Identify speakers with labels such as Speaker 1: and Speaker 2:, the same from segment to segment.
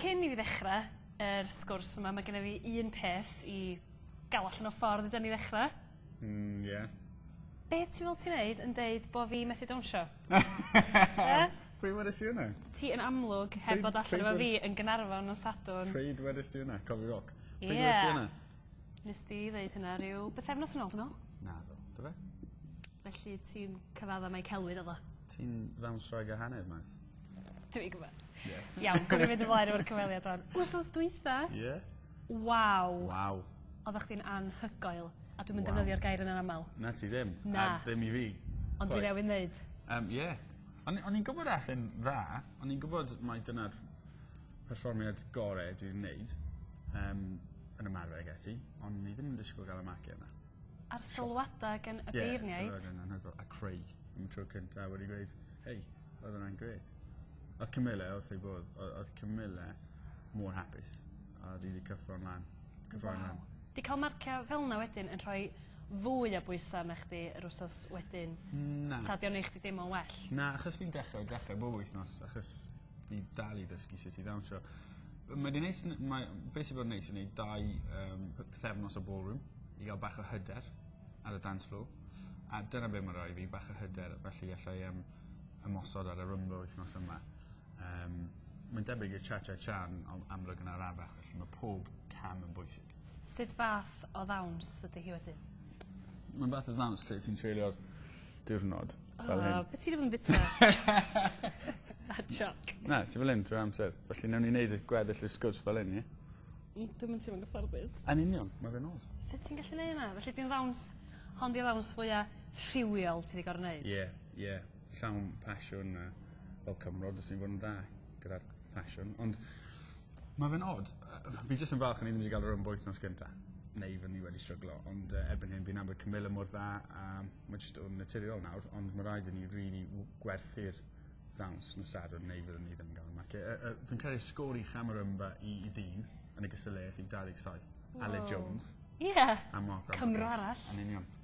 Speaker 1: Cyn i fi ddechra yr sgwrs yma ma' genna fi un peth i ga'l allan o ffordd i 'dyn ni ddechra. Hmm ie.
Speaker 2: Be'
Speaker 1: ti fel ti neud yn deud bo' fi methu dawnsio?
Speaker 2: Yy? Pryd wedest ti wnna? Ti yn amlwg
Speaker 1: heb fod allan efo fi yn Ganarfon nos Sadwrn. Pryd wedest ti wnna?
Speaker 2: Coffi Rock? Ie. Pryd wedest ti wnna? Nest di
Speaker 1: ddeud hynna ryw bythefnos yn ôl dwi me'wl. Naddo. Do fe?
Speaker 2: Felly
Speaker 1: ti'n cyfadda mai celwydd odd o? Ti'n ddawnswraig
Speaker 2: a hanner Maes. Dw i gwbod.
Speaker 1: Ie. Iawn gawn ni
Speaker 2: fynd ymlaen
Speaker 1: efo'r cyfweliad rŵan. Wsos dwytha... Ie.
Speaker 2: ...waw.
Speaker 1: Waw.
Speaker 2: Oddach chdi'n
Speaker 1: anhygoel a dwi'm yn defnyddio'r gair yna'n amal. Na ti ddim. Na. A
Speaker 2: ddim i fi. Ond dwi newydd neud.
Speaker 1: Yym ie.
Speaker 2: O'n i o'n i'n gwbod a'th e'n dda o'n i'n gwbod mai dyna'r perfformiad gore dwi 'di neud yym yn ymarfer ag ati ond ni ddim yn disgwl ga'l y marcie yna. A'r sylwada
Speaker 1: gen y beirniaid. Ie sylwad yn anhygol a
Speaker 2: Craig am y tro cynta wedi gweud hei Oedd yna'n gret. Oedd Camilla, oedd ei bod, oedd Camilla mor hapus. A oedd hi wedi cyffro'n lan. Cyffro'n wow. lan. Di cael marciau fel yna wedyn yn rhoi fwy o bwysau na chdi yr wsos wedyn? Na. Ta di o'n eich di deimlo'n
Speaker 1: well? Na, achos fi'n dechrau,
Speaker 2: dechrau bob wythnos, achos fi dal i ddysgu sut i ddawnsio. Mae di neis, mae, beth sy'n bod yn neis yn ei dau um, pethefnos o ballroom i gael bach o hyder ar y dance floor. A dyna beth mae'n rhoi fi, bach o hyder, felly allai um, ymosod ar y Rhumba wythnos yma. Um, Mae'n debyg i'r cha-cha-cha'n amlwg yn arafach, felly mae pob cam yn bwysig. Sut fath
Speaker 1: o ddawns ydy hi wedyn? Mae'n fath
Speaker 2: o ddawns lle ti'n treulio'r diwrnod. Oh, fel hyn. beth ti'n
Speaker 1: mynd bita? A joc. Na, ti fel hyn drwy'r
Speaker 2: amser. Felly newn ni wneud y gweddill y sgwrs fel hyn, ie? Mm, dwi'n mynd ti'n mynd
Speaker 1: gyfforddus. Yn union, mae fe'n os.
Speaker 2: Sut ti'n gallu neud yna? Felly
Speaker 1: di'n ddawns, hon di'n ddawns fwyaf rhywiol ti wedi gorau wneud? Ie. Yeah. Ie,
Speaker 2: llawn passion a fel cymro jyst yn bod yn dda gyda'r passion. Ond mae fe'n od. Fi jyst yn falch o'n i ddim wedi cael yr un bwyth nos gynta. Neu fy ni wedi stryglo. Ond uh, erbyn hyn fi'n nabod Camilla mor dda a mae jyst o'n naturiol nawr. Ond mae rhaid i ni really gwerthu'r ddawns nos sadwrn neu fyddwn ni ddim yn gael marcio. Uh, uh, fi'n credu sgôr i Chamarumba i, i ddyn yn y gysylltiad yw 27. Wow. Ale Jones. Ie. Yeah. A
Speaker 1: Mark Cymro
Speaker 2: arall. Yn union.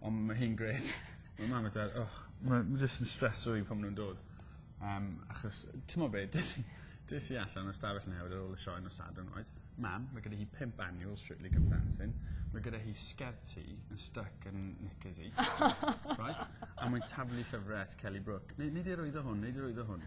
Speaker 2: Ond ma' hi'n grêt. Ma' mam a dad och ma' ma' jyst yn streso fi pan ma' nw'n dod. Yym achos t'mod be' des i des i allan o stafell newydd ar ôl y sioe nos Sadwrn reit mam ma' gyda hi pump annual Strictly Come Dancing ma' gyda hi sgert hi yn styc yn knickers 'i. Reit? A mae'n taflu llyfre at Kelly Brook. Nei- nei di arwyddo hwn nei di arwyddo hwn.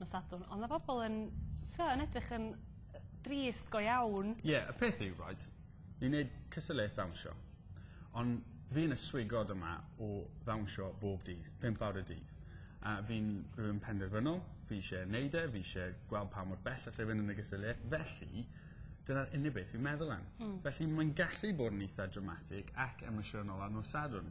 Speaker 1: nos Sadwrn on' ma' bobol yn t'mo' yn edrych yn yy drist go iawn. Ie y peth yw right
Speaker 2: ni'n neud cystadleuaeth ddawnsio on' fi yn y swigod yma o ddawnsio bob dydd pump awr y dydd a fi'n rywun penderfynol fi isie neud e fi isie gweld pa mor bell allai fyn' yn y gystadleuaeth felly dyna'r unig beth fi'n meddwl am. Hmm. Felly mae'n gallu bod yn itha dramatic ac emosiynol ar nos Sadwrn.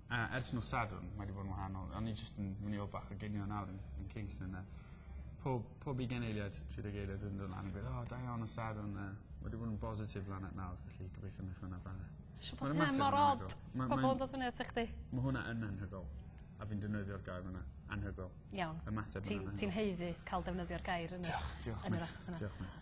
Speaker 2: A ers nos Sadwrn mae 'di bod yn wahanol. O'n i jyst yn myn' i weld bach o ginio nawr yn yn Kingston a pob pob ugen eiliad tri deg eiliad wedyn dod lan a gweud o da iawn nos Sadwrn a wedi bod yn bositif lan at nawr felly gobeithio neith wnna bara. Siwr bod hyn mor
Speaker 1: od. Ma' ma'n... Pobol yn dod fyny ata chdi. Ma' hwnna yn anhygol.
Speaker 2: A fi'n defnyddio'r gair yna. Anhygol. Iawn. Ymateb yn anhygol.
Speaker 1: Ti'n ti'n
Speaker 2: haeddu ca'l defnyddio'r
Speaker 1: gair yna. Diolch diolch miss. Yn yr achos yna. Diolch miss.